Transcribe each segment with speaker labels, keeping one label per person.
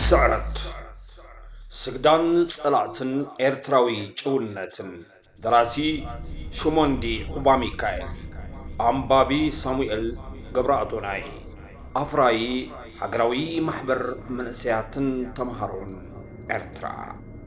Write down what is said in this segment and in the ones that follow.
Speaker 1: ስዕረት ስግዳን ፀላእትን ኤርትራዊ ጭውነትን ደራሲ ሹሞንዲ ኹባሚካኤል ኣንባቢ ሳሙኤል ገብረኣቶናይ ኣፍራዪ ሃገራዊ ማሕበር መንእሰያትን ተምሃሮን ኤርትራ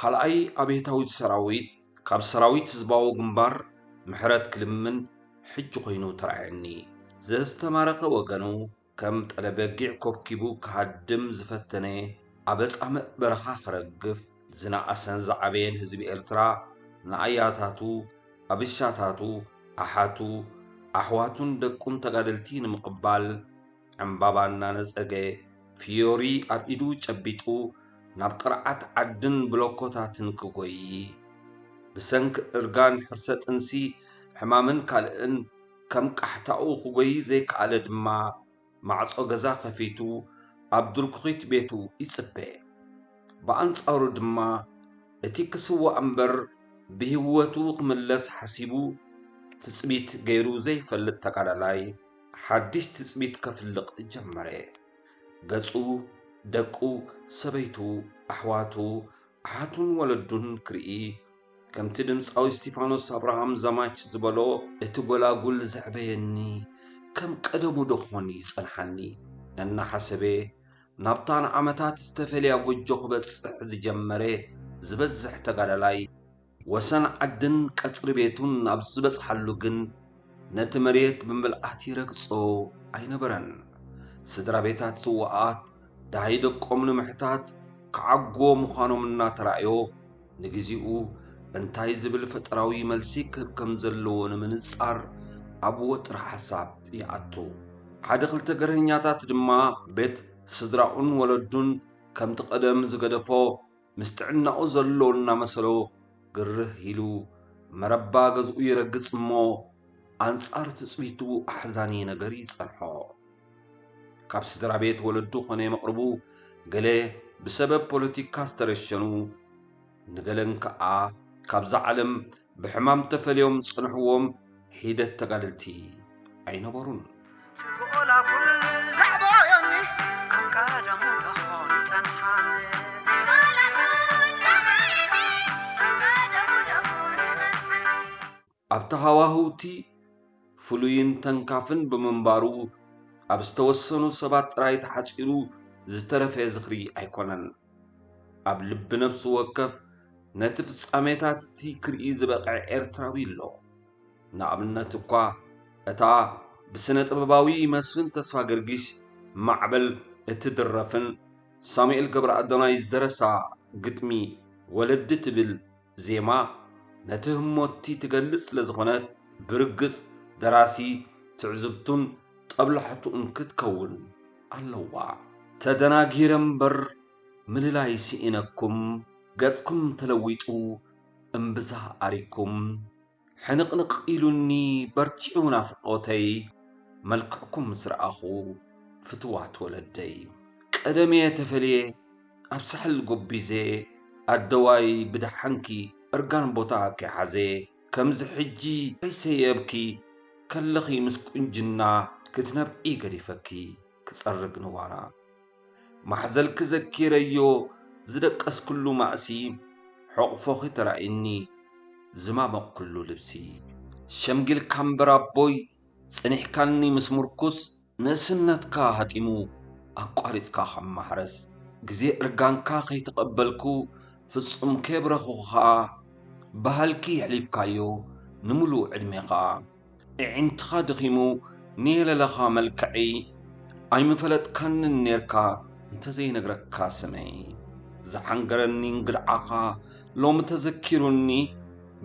Speaker 1: ካልኣይ ኣብየታዊት ሰራዊት ካብ ሰራዊት ህዝባዊ ግንባር ምሕረት ክልምን ሕጂ ኮይኑ ተራኣየኒ። ዘዝተማረኸ ወገኑ ከም ጠለ በጊዕ ኮብኪቡ ክሃድም ዝፈተነ ኣበ ጻምእ በረኻ ክረግፍ ዝነኣሰን ዝዓበየን ህዝቢ ኤርትራ ንኣያታቱ፣ ኣብሻታቱ፣ ኣሓቱ፣ ኣሕዋቱን ደቁን ተጋደልቲ ንምቕባል፣ ዕምባባ እናነፀገ ፍዮሪ ኣብ ኢዱ ጨቢጡ ናብ ቅርዓት ዓድን ብሎኮታትን ክጎዪ ብሰንኪ እርጋን ሕርሰ ጥንሲ ሕማምን ካልእን ከም ቃሕታኡ ክጎዪ ዘይከኣለ ድማ ማዕፆ ገዛ ከፊቱ ኣብ ድርኩኺት ቤቱ ይፅበ። ብኣንፃሩ ድማ እቲ ክስዋእ እምበር ብሂወቱ ክምለስ ሓሲቡ ትፅቢት ገይሩ ዘይፈልጥ ተጋዳላይ፣ ሓድሽ ትጽቢት ከፍልቕ ጀመረ። ገጹ፣ ደቁ፣ ሰበይቱ፣ ኣሕዋቱ፣ ኣሓቱን ወለዱን ክርኢ፣ ከምቲ ድምጻዊ እስቲፋኖስ ኣብርሃም ዘማች ዝበሎ፣ እቲ ጐላጉል ዘዕበየኒ ከም ቀደሙ ዶ ዀን ይጸንሓኒ? እናሓሰበ፣ ናብታ ንዓመታት ዝተፈልያ ጐጆ ክበጽሕ ዝጀመረ ዝበዝሕ ተጋዳላይ፣ ወሰን ዓድን ቀጽሪ ቤቱን ኣብ ዝበጽሓሉ ግን ነቲ መሬት ብምልኣት ይረግጾ ኣይነበረን። ስድራ ቤታት ስዉኣት ደሃይ ደቆም ንምሕታት ክዓግዎ ምዃኖም እናተራእዮ፣ ንግዜኡ እንታይ ዝብል ፈጠራዊ መልሲ ክህብ ከም ዘለዎ ንምንጻር ኣብ ወጥሪ ሓሳብ ይኣቱ። ሓደ ክልተ ገርሀኛታት ድማ ቤት ስድራኡን ወለዱን ከምቲ ቀደም ዝገደፎ ምስ ጥዕናኡ ዘሎ እናመሰሎ ግርህ ኢሉ መረባ ገዝኡ ይረግጽ እሞ ኣንጻር ትጽቢቱ ኣሕዛኒ ነገር ይጸንሖ። ካብ ስድራ ቤት ወለዱ ኾነ መቕርቡ ገለ ብሰበብ ፖለቲካ ዝተረሸኑ ንገለን ከኣ ካብዛ ዓለም ብሕማም ተፈልዮም ዝጸንሕዎም ሒደት ተጋደልቲ ኣይነበሩን። ኣብቲ ሃዋህው'ቲ ፍሉይን ተንካፍን ብምንባሩ ኣብ ዝተወሰኑ ሰባት ጥራይ ተሓጺሩ ዝተረፈ ዝኽሪ ኣይኮነን። ኣብ ልቢ ነፍሲ ወከፍ ነቲ ፍጻሜታት'ቲ ክርኢ ዝበቕዐ ኤርትራዊ ኣሎ። ንኣብነት እኳ እታ ብስነ-ጥበባዊ መስፍን ተስፋገርጊስ ማዕበል እትድረፍን ሳሙኤል ገብረኣዶናይ ዝደረሳ ግጥሚ ወለዲ ትብል ዜማ ነቲ ህሞት'ቲ ትገልጽ ስለ ዝኾነት፣ ብርግጽ ደራሲ ትዕዝብቱን ጦብላሕትኡን ክትከውን ኣለዋ። ተደናጊረ እምበር ምልላይ ስኢነኩም ገጽኩም ተለዊጡ እምብዛ ኣሪግኩም። ሕንቕንቕ ኢሉኒ በርቲዑ ናፍቖተይ መልክዕኩም ምስ ረኣኹ ፍትዋት ወለደይ ቀደምየ ተፈልየ ኣብ ሳሕል ጎቢዘ ኣደዋይ ብደሓንኪ እርጋን ቦታ ከይሓዘ ከምዚ ሕጂ ከይሰየብኪ ከለኺ ምስ ቁንጅና ክትነብዒ ገዲፈኪ ክጸርግ ንዋና ማሕዘልኪ ዘኪረዮ ዝደቀስክሉ ማእሲ ሑቕፎኺ ተራእዩኒ ዝማመቕክሉ ልብሲ ሸምጊልካ እምበር ኣቦይ ጸኒሕካኒ ምስ ምርኩስ ንእስነትካ ሃጢሙ ኣቋሪጽካ ካብ ማሕረስ ግዜ እርጋንካ ከይተቐበልኩ ፍጹም ከየብረኹኩኻ ብሃልኪ የሕሊፍካዮ ንምሉእ ዕድሜኻ እዒንትኻ ደኺሙ ንየለለኻ መልክዐይ ኣይምፈለጥካንን ኔርካ እንተዘይነግረካ ስመይ ዝሓንገረኒ እንግድዓኻ ሎሚ ተዘኪሩኒ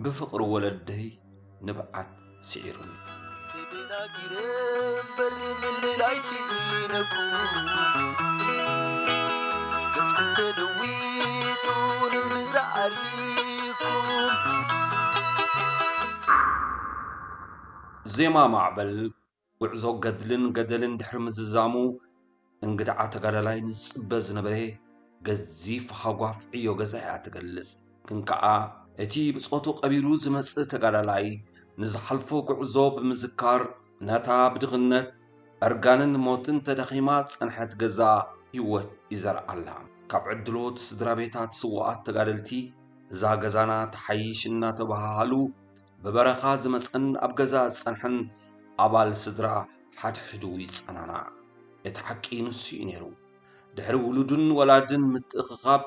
Speaker 1: ብፍቕሪ ወለደይ ንብዓት ስዒሩኒ። ተደናጊረ እምበር ምልላይ ስኢነኩ ገጽኩም ተለዊጡ ንምዛ ዓሪፍኩም ዜማ ማዕበል ጉዕዞ ገድልን ገደልን ድሕሪ ምዝዛሙ እንግድዓ ተጋዳላይ ንዝፅበ ዝነበረ ገዚፍ ሃጓፍ ዕዮ ገዛ እያ ትገልፅ። ግን ከዓ እቲ ብፆቱ ቀቢሉ ዝመፅእ ተጋዳላይ ንዝሓልፎ ጉዕዞ ብምዝካር ነታ ብድኽነት እርጋንን ሞትን ተዳኺማ ዝፀንሐት ገዛ ህይወት ይዘርኣላ። ካብ ዕድሎት ስድራ ቤታት ስውኣት ተጋደልቲ እዛ ገዛና ተሓይሽ እናተበሃሃሉ ብበረኻ ዝመጸን ኣብ ገዛ ዝጸንሐን ኣባል ስድራ ሓድሕዱ ይጸናናዕ። እቲ ሓቂ ንሱ'ዩ ነይሩ። ድሕሪ ውሉድን ወላድን ምትእኽኻብ፣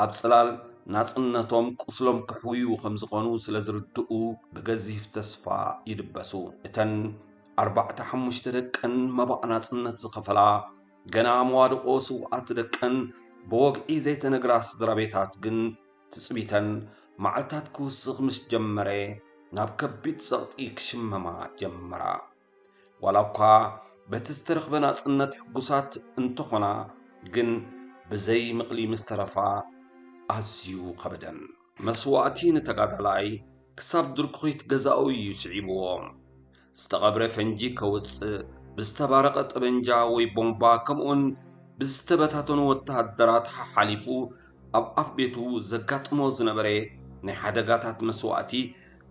Speaker 1: ኣብ ጽላል ናጽነቶም ቁስሎም ከሕውዩ ከም ዝኾኑ ስለ ዝርድኡ ብገዚፍ ተስፋ ይድበሱ። እተን ኣርባዕተ ሓሙሽተ ደቀን መባእ ናጽነት ዝኸፈላ ገና መዋድቖ ስውኣት ደቀን ብወግዒ ዘይተነግራ ስድራቤታት ግን ትጽቢተን መዓልታት ክውስኽ ምስ ጀመረ ናብ ከቢድ ጸቕጢ ክሽመማ ጀመራ። ዋላ እኳ በቲ ዝተረኽበ ናጽነት ሕጉሳት እንተኾና ግን ብዘይ ምቕሊ ምስ ተረፋ ኣዝዩ ከበደን። መስዋእቲ ንተጋዳላይ ክሳብ ድርኩኺት ገዛኡ እዩ ስዒብዎ። ዝተቐብረ ፈንጂ ከውጽእ፣ ብዝተባረቐ ጠበንጃ ወይ ቦምባ ከምኡውን ብዝተበታተኑ ወተሃደራት ሓሓሊፉ ኣብ ኣፍ ቤቱ ዘጋጥሞ ዝነበረ ናይ ሓደጋታት መስዋእቲ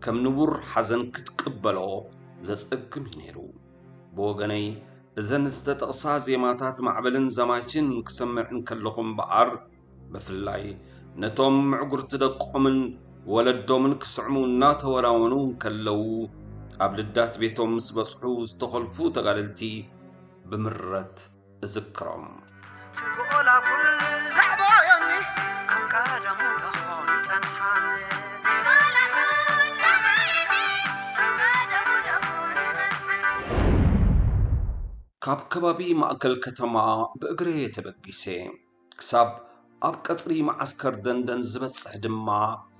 Speaker 1: ከም ንቡር ሓዘን ክትቅበሎ ዘጸግም እዩ ነይሩ። ብወገነይ እዘን ዝተጠቕሳ ዜማታት ማዕበልን ዘማችን ክሰምዕ እንከለኹ እምበኣር ብፍላይ ነቶም ምዕጉርቲ ደቆምን ወለዶምን ክስዕሙ እናተወናወኑ እንከለዉ ኣብ ልዳት ቤቶም ምስ በጽሑ ዝተኾልፉ ተጋደልቲ ብምረት እዝክሮም ካብ ከባቢ ማእከል ከተማ ብእግረየ ተበጊሰ ክሳብ ኣብ ቀጽሪ መዓስከር ደንደን ዝበጽሕ ድማ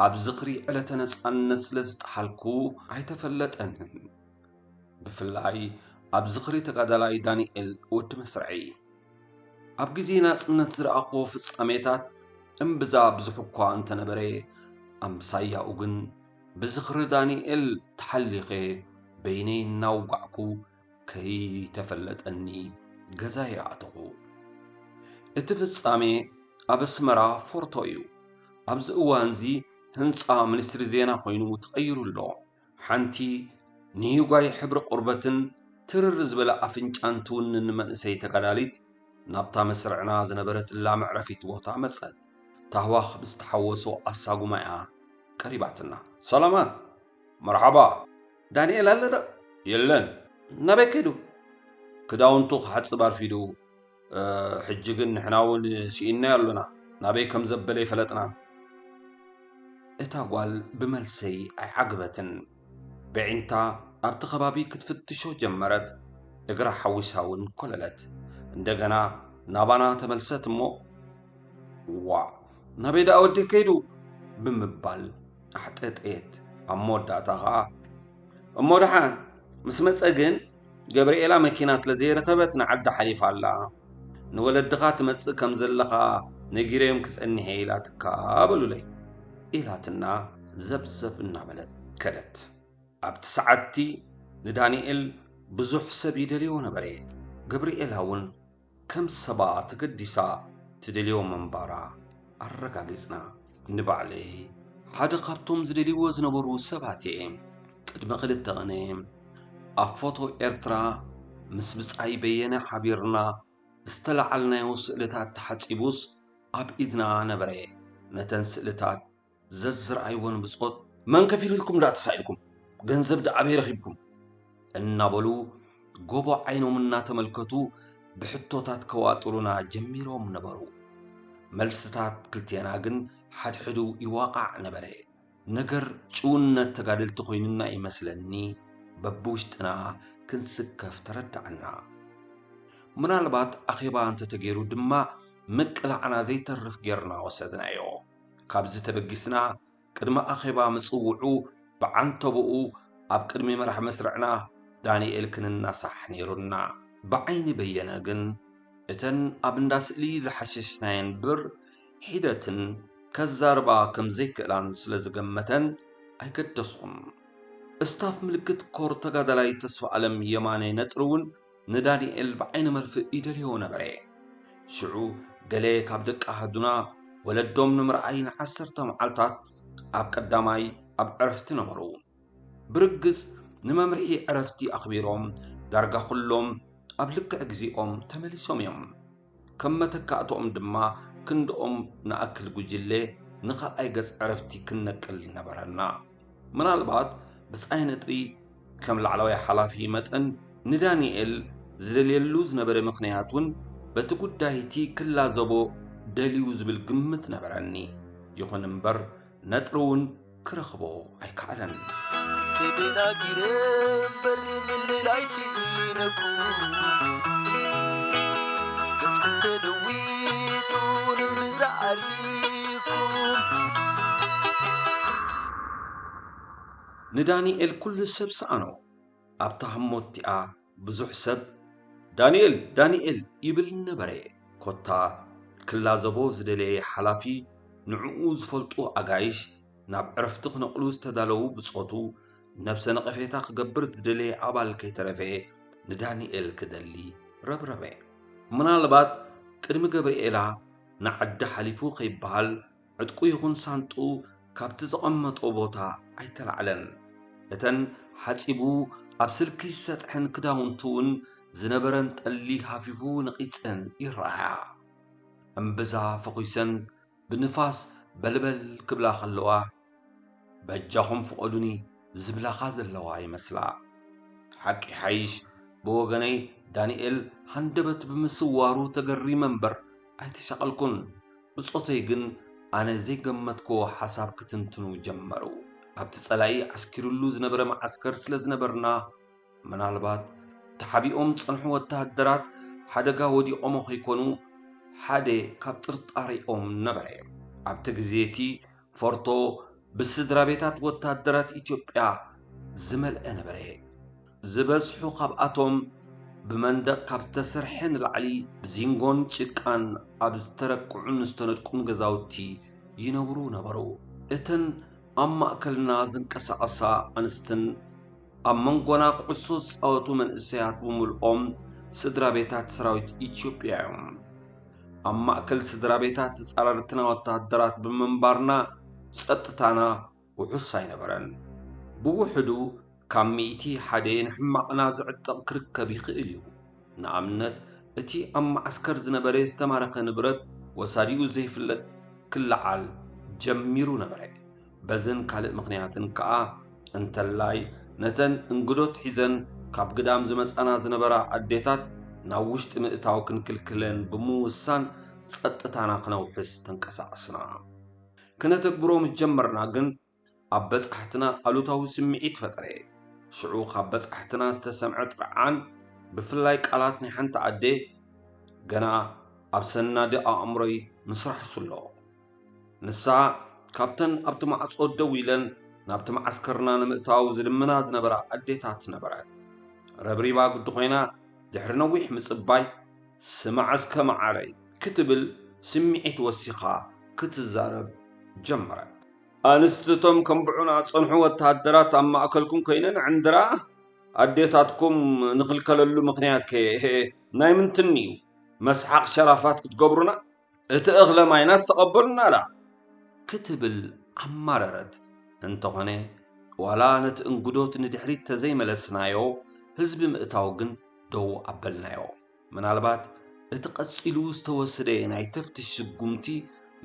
Speaker 1: ኣብ ዝኽሪ ዕለተ ነጻነት ስለ ዝጠሓልኩ ኣይተፈለጠንን። ብፍላይ ኣብ ዝኽሪ ተጋዳላይ ዳኒኤል ወዲ መስርዐይ። ኣብ ግዜ ናጽነት ዝረኣኹዎ ፍጻሜታት እምብዛ ብዙሕ'ኳ እንተነበረ፣ ኣምሳያኡ ግን ብዝኽሪ ዳኒኤል ተሓሊኸ በይነይ እናውጋዕኩ፣ ከይተፈለጠኒ ገዛይ ኣተኹ። እቲ ፍጻሜ ኣብ ኣስመራ ፎርቶ እዩ። ኣብዚ እዋንዚ ህንጻ ሚኒስትሪ ዜና ኮይኑ ተቐይሩ ኣሎ። ሓንቲ ንሂጓይ ሕብሪ ቆርበትን ትርር ዝበለ ኣፍንጫን ትውንን መንእሰይ ተጋዳሊት ናብታ መስርዕና ዝነበረትላ መዕረፊት ቦታ መጸት። ታህዋኽ ብዝተሓወሶ ኣሳጉማ'ያ ቀሪባትና። ሰላማት! መርሓባ ዳኒኤል ኣሎ ዶ? የለን። ናበይ ከይዱ? ክዳውንቱ ክሓጽብ ኣርፊዱ። ሕጂ ግን ንሕና'ውን ስኢንናዮ ኣሎና። ናበይ ከም ዘበለ ኣይፈለጥናን። እታ ጓል ብመልሰይ ኣይዓገበትን። በዒንታ ኣብቲ ከባቢ ክትፍትሾ ጀመረት። እግራ ሓዊሳ እውን ኮለለት። እንደገና ናባና ተመልሰት እሞ ዋእ ናበይ ደኣ ወዲህ ከይዱ? ብምባል ኣሕጠጠየት ኣብ መወዳእታ ኸዓ እሞ ደሓን ምስ መፀ ግን ገብርኤላ መኪና ስለ ዘይረኸበት ንዓዲ ሓሊፋ ኣላ ንወለድኻ ትመፅእ ከም ዘለኻ ነጊረዮም ክፀኒሐ ኢላትካ በሉለይ ኢላትና ዘብዘብ እናበለት ከደት ኣብቲ ሰዓትቲ ንዳንኤል ብዙሕ ሰብ ይደልዮ ነበረ ገብርኤላ እውን ከም ሰባ ተገዲሳ ትደልዮ ምንባራ ኣረጋጊጽና። ንባዕለይ ሓደ ካብቶም ዝደልይዎ ዝነበሩ ሰባት'የ። ቅድሚ ክልተ ቅነ ኣብ ፎቶ ኤርትራ ምስ ብጻይ በየነ ሓቢርና ዝተላዓልናዮ ስእልታት ተሓጺቡስ ኣብ ኢድና ነበረ። ነተን ስእልታት ዘዝረኣይዎ ንብጾት መን ከፊሉ ኢልኩም ደኣ ተሳኢንኩም፣ ገንዘብ ደኣ ኣበይ ረኺብኩም? እናበሉ ጎቦ ዓይኖም እናተመልከቱ ብሕቶታት ከዋጥሩና ጀሚሮም ነበሩ። መልስታት ክልቴና ግን ሓድሕዱ ይዋቓዕ ነበረ። ነገር ጭውነት ተጋደልቲ ኮይኑና እዩ መስለኒ በብውሽጥና ክንስከፍ ተረዳዕና። ምናልባት ኣኼባ እንተተገይሩ ድማ ምቅላዕና ዘይተርፍ ጌርና ወሰድናዮ። ካብዚ ተበጊስና ቅድሚ ኣኼባ ምጽውዑ ብዓንተቦኡ ኣብ ቅድሚ መራሕ መስርዕና ዳንኤል ክንናሳሕ ነይሩና። ብዓይኒ በየነ ግን እተን ኣብ እንዳ ስእሊ ዝሓሸሽናየን ብር ሒደትን ከዛርባ ከም ዘይክእላን ስለ ዝገመተን ኣይገደስኹን። እስታፍ ምልክት ኮር ተጋዳላይ ተስፋኣለም የማነ ነጥሪ'ውን ንዳንኤል ብዓይኒ መርፍእ ይደልዮ ነበረ። ሽዑ ገለ ካብ ደቂ ኣሃዱና ወለዶም ንምርኣይ ንዓሰርተ መዓልታት ኣብ ቀዳማይ ኣብ ዕረፍቲ ነበሩ። ብርግጽ ንመምርሒ ዕረፍቲ ኣኽቢሮም ዳርጋ ኩሎም ኣብ ልክዕ ግዜኦም ተመሊሶም እዮም። ከም መተካእትኦም ድማ ክንድኦም ንኣክል ጉጅለ ንኻልኣይ ገጽ ዕረፍቲ ክንነቅል ነበረና። ምናልባት ብጻይ ነጥቢ ከም ላዕለዋይ ሓላፊ መጠን ንዳኒኤል ዝደልየሉ ዝነበረ ምኽንያት እውን በቲ ጉዳይ'ቲ ክላዘቦ ደልዩ ዝብል ግምት ነበረኒ። ይኹን እምበር ነጥሪ እውን ክረኽቦ ኣይከኣለን። ተደናጊረ
Speaker 2: እምበር ምልላይ ስኢነኩ ገጽኩም ተለዊጡ ንምዛ ዓሪኩም
Speaker 1: ንዳኒኤል ኩሉ ሰብ ሰኣኖ ኣብታ ህሞት'ቲኣ ብዙሕ ሰብ ዳኒኤል ዳኒኤል ይብል ነበረ። ኮታ ክላዘቦ ዝደለየ ሓላፊ ንዕኡ ዝፈልጡ ኣጋይሽ፣ ናብ ዕረፍቲ ክነቕሉ ዝተዳለዉ ብጾቱ፣ ነብሰ ነቐፌታ ክገብር ዝደለየ ኣባል ከይተረፈ ንዳኒኤል ክደሊ ረብረበ። ምናልባት ቅድሚ ገብርኤላ ንዓዲ ሓሊፉ ከይበሃል፣ ዕጥቁ ይኹን ሳንጥኡ ካብቲ ዘቐመጦ ቦታ ኣይተላዕለን። እተን ሓጺቡ ኣብ ስልኪ ዝሰጥሐን ክዳውንቱ እውን ዝነበረን ጠሊ ሃፊፉ ነቒጸን ይረኣያ። እምብዛ ፈዂሰን ብንፋስ በልበል ክብላ ከለዋ፣ በጃኹም ፍቐዱኒ ዝብላኻ ዘለዋ ይመስላ። ሓቂ ይሓይሽ ብወገነይ ዳንኤል ሃንደበት ብምስዋሩ ተገሪመ እምበር፣ ኣይተሻቐልኩን፣ ብጾተይ ግን ኣነ ዘይገመትክዎ ሓሳብ ክትንትኑ ጀመሩ። ኣብቲ ጸላኢ ዓስኪሩሉ ዝነበረ መዓስከር ስለ ዝነበርና፣ ምናልባት ተሓቢኦም ዝጸንሑ ወተሃደራት ሓደጋ ወዲቖሞ ከይኮኑ ሓደ ካብ ጥርጣሬኦም ነበረ። ኣብቲ ግዜ እቲ ፎርቶ ብስድራቤታት ወተሃደራት ኢትዮጵያ ዝመልአ ነበረ። ዝበዝሑ ካብኣቶም ብመንደቕ ካብ ዝተሰርሐ ንላዕሊ ብዚንጎን ጭቃን ኣብ ዝተረቅዑን ዝተነድቁን ገዛውቲ ይነብሩ ነበሩ። እተን ኣብ ማእከልና ዝንቀሳቐሳ ኣንስትን ኣብ መንጎና ኩዕሶ ዝፃወቱ መንእሰያት ብምልኦም ስድራ ቤታት ሰራዊት ኢትዮጵያ እዮም። ኣብ ማእከል ስድራ ቤታት ተጻረርትና ወተሃደራት ብምንባርና ጸጥታና ውሑስ ኣይነበረን። ብውሕዱ ካብ ሚእቲ ሓደ ንሕማቕና ዝዕጠቕ ክርከብ ይኽእል እዩ። ንኣብነት እቲ ኣብ መዓስከር ዝነበረ ዝተማረኸ ንብረት ወሳዲኡ ዘይፍለጥ ክለዓል ጀሚሩ ነበረ። በዝን ካልእ ምኽንያትን ከኣ እንተላይ ነተን እንግዶት ሒዘን ካብ ግዳም ዝመጻና ዝነበራ ኣዴታት ናብ ውሽጢ ምእታው ክንክልክለን ብምውሳን ጸጥታና ክነውሕስ ተንቀሳቐስና። ክነተግብሮ ምስ ጀመርና ግን ኣብ በጻሕትና ኣሉታዊ ስምዒት ፈጠረ። ሽዑ ካብ በጻሕትና ዝተሰምዐ ጥርዓን ብፍላይ ቃላት ናይ ሓንቲ ኣደ ገና ኣብ ሰናዲ ኣእምሮይ ምስራሕሱ ኣሎ። ንሳ ካብተን ኣብቲ ማዕጾ ደው ኢለን ናብቲ መዓስከርና ንምእታው ዝልምና ዝነበራ ኣዴታት ነበረት። ረብሪባ ግዲ ኮይና ድሕሪ ነዊሕ ምጽባይ ስማዕስከ መዓረይ ክትብል ስምዒት ወሲኻ ክትዛረብ ጀመረት። ኣንስቲ እቶም ከንብዑና ዝጸንሑ ወተሃደራት ኣብ ማእከልኩም ኮይነን ዕንድራ ኣዴታትኩም ንኽልከለሉ ምኽንያትከ ናይ ምንትን'ዩ? መስሓቕ ሸራፋት ክትገብሩና? እቲ እኽለ ማይናስ ተቐበሉና ደኣ ክትብል ኣማረረት። እንተኾነ ዋላ ነቲ እንግዶት ንድሕሪት ተዘይመለስናዮ ህዝቢ ምእታው ግን ደው ኣበልናዮ። ምናልባት እቲ ቀጺሉ ዝተወስደ ናይ ተፍትሽ ስጉምቲ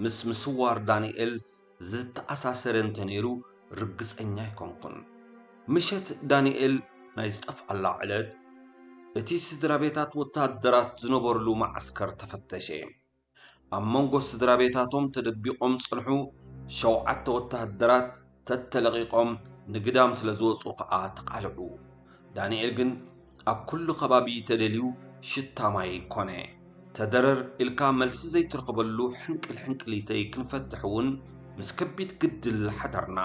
Speaker 1: ምስ ምስዋር ዳኒኤል ዝተኣሳሰረ እንተ ነይሩ ርግጸኛ ኣይኮንኩን። ምሸት ዳንኤል ናይ ዝጠፍኣላ ዕለት፣ እቲ ስድራቤታት ወተሃደራት ዝነበሩሉ መዓስከር ተፈተሸ። ኣብ መንጎ ስድራቤታቶም ተደቢቖም ዝጸንሑ ሸውዓተ ወተሃደራት ተተለቒቖም ንግዳም ስለ ዝወጹ ከኣ ተቓልዑ። ዳንኤል ግን ኣብ ኩሉ ከባቢ ተደልዩ ሽታ ማይ ኮነ። ተደረር ኢልካ መልሲ ዘይትረኽበሉ ሕንቅል ሕንቅሊተይ ክንፈትሕ እውን ምስ ከቢድ ግድል ሓደርና።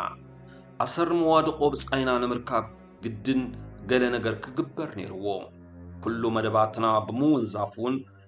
Speaker 1: ኣሰር መዋድቖ ብጻይና ንምርካብ ግድን ገለ ነገር ክግበር ነይርዎ። ኩሉ መደባትና ብምውንዛፍ እውን